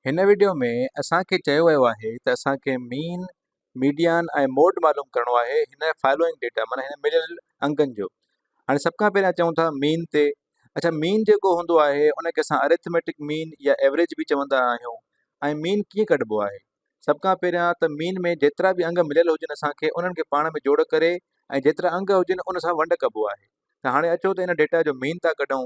هن وڊيو ۾ اسان کي چيو ويو آهي ته اسان کي مين، ميڊيان ۽ موڊ معلوم ڪرڻو آهي هن فالوئنگ ڊيٽا معنيٰ هن مليل انگن جو. هاڻي سڀ کان پهريان اچون ٿا مين تي. اڇا مين جيڪو هوندو آهي ان کي اسان اريٿميٽڪ مين يا ايوريج به چوندا آهيون ۽ مين ڪيئن ڪڍبو آهي؟ سڀ کان پهريان ته مين ۾ جيترا به انگ مليل هجن اسان کي انهن کي پاڻ ۾ جوڙ ڪري ۽ جيترا انگ هجن ان سان ونڊ ڪبو آهي ته هاڻي اچو ته ان ڊيٽا جو مين ٿا ڪڍون.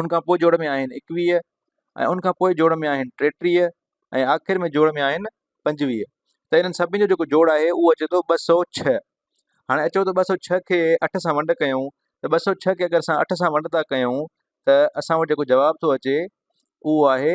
ان کان پوء جوڙ ۾ آهن ايڪويهه ۽ ان کان پوء جوڙ ۾ آهن ٽيٽيهه ۽ آخر ۾ جوڙ ۾ آهن پنجويهه ته انهن سڀني جو جيڪو جوڙ آهي اهو اچي ٿو ٻه سؤ ڇهه هاڻي اچو ته ٻه سؤ ڇهه کي اٺ سان ونڊ ڪيون ته ٻه سؤ ڇهه کي اگر اسان اٺ سان ونڊ ٿا ڪيون ته اسان وٽ جيڪو جواب ٿو اچي اهو آهي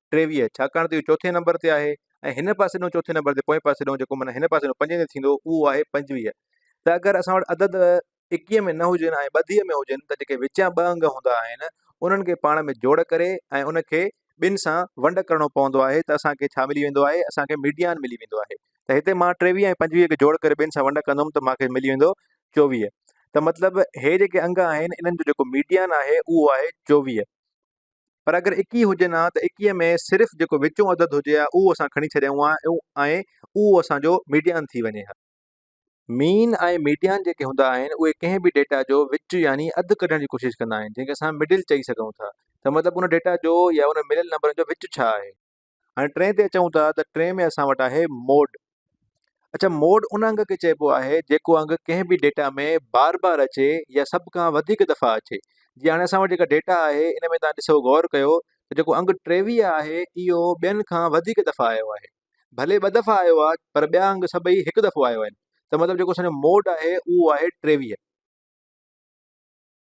ٽيويهه ڇاڪاڻ ته اهو چوٿين نمبر تي آهي ۽ هن پاسي ڏانهن چوٿين نمبر تي پوئين پاسي ڏانهن جيڪو معنيٰ هن پاسي ڏانهن پنجين تي ٿيندو اهو آهي پنجويهه ته اگر اسان وٽ عدد ايڪيهه ۾ نه هجن ۽ ٻڌيء ۾ هجن ته جيڪي وچيان ٻه انگ هوندا آهن انهن کي پاڻ ۾ جوڙ ڪري ۽ ان کي ٻن سان ونڊ ڪرڻو پوندو آهي ته اسان کي ڇا ملي ويندو آهي اسان کي ميڊيان ملي ويندو آهي ته هتي مان ٽيويهه ۽ پنجويهه کي جوڙ ڪري ٻن سان ونڊ ڪندم ته مان کي ملي ويندو چوويهه ته مطلب هي جيڪي انگ آهن انهن جو جيڪو ميڊيان آهي اهو آهي چوويهه پر اگر ايڪيهه هجن ها ته ايڪيهه ۾ صرف جيڪو وچون عدد هجي ها اهو اسان کڻي ڇڏيائون ها ۽ اهو اسان جو ميڊيان ٿي وڃي ها. مين ۽ ميڊيان جيڪي هوندا آهن اهي ڪنهن به ڊيٽا جو وچ يعني اڌ ڪڍڻ جي ڪوشش ڪندا آهن جنهن کي اسان مڊل چئي سگهون ٿا ته مطلب ان ڊيٽا جو يا ان مليل نمبرن جو وچ ڇا آهي. هاڻي ٽئين تي اچون ٿا ته ٽئين ۾ اسان وٽ آهي موڊ اچا موڊ ان انگ کي چئبو آهي جيڪو انگ ڪنهن به ڊيٽا ۾ بار بار اچي يا سڀ کان وڌيڪ دفعا اچي جي هاڻي اسان وٽ جيڪا ڊيٽا آهي ان ۾ تان ڏسو غور ڪيو ته جيڪو انگ ٽيويهه آهي اهو ٻين کان وڌيڪ دفعا آيو آهي ڀلي ٻه دفعا آيو آهي پر ٻيا انگ سڀئي هڪ دفعو آيو آهن ته مطلب جيڪو اسان جو موڊ آهي اهو آهي ٽيويهه